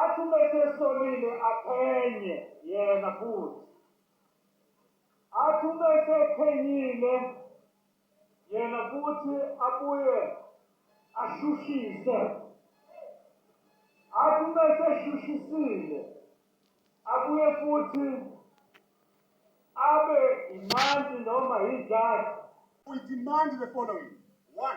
Athi uma esesolile aphenye yena futhi. Athi uma esephenyile yena futhi abuye ashushise. Athi uma eseshushisile abuye futhi abe imanti noma yijaji. We demand the following. One,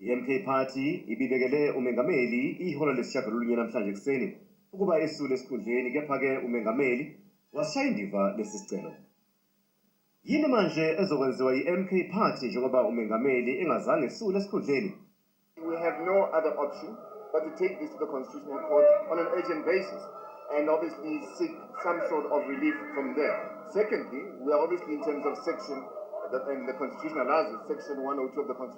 I-MK Party ibibekele umengameli ihora lesishagalolunye namhlanje ekuseni ukuba esule esikhundleni kepha-ke umengameli wasishaya indiva lesi sicelo. Yini manje ezokwenziwa yi-MK Party njengoba umengameli engazange esule esikhundleni? We have no other option but to take this to the Constitutional Court on an urgent basis and obviously seek some sort of relief from there. Secondly, we are obviously in terms of section, and the Constitution allows it, section 102 of the Constitution.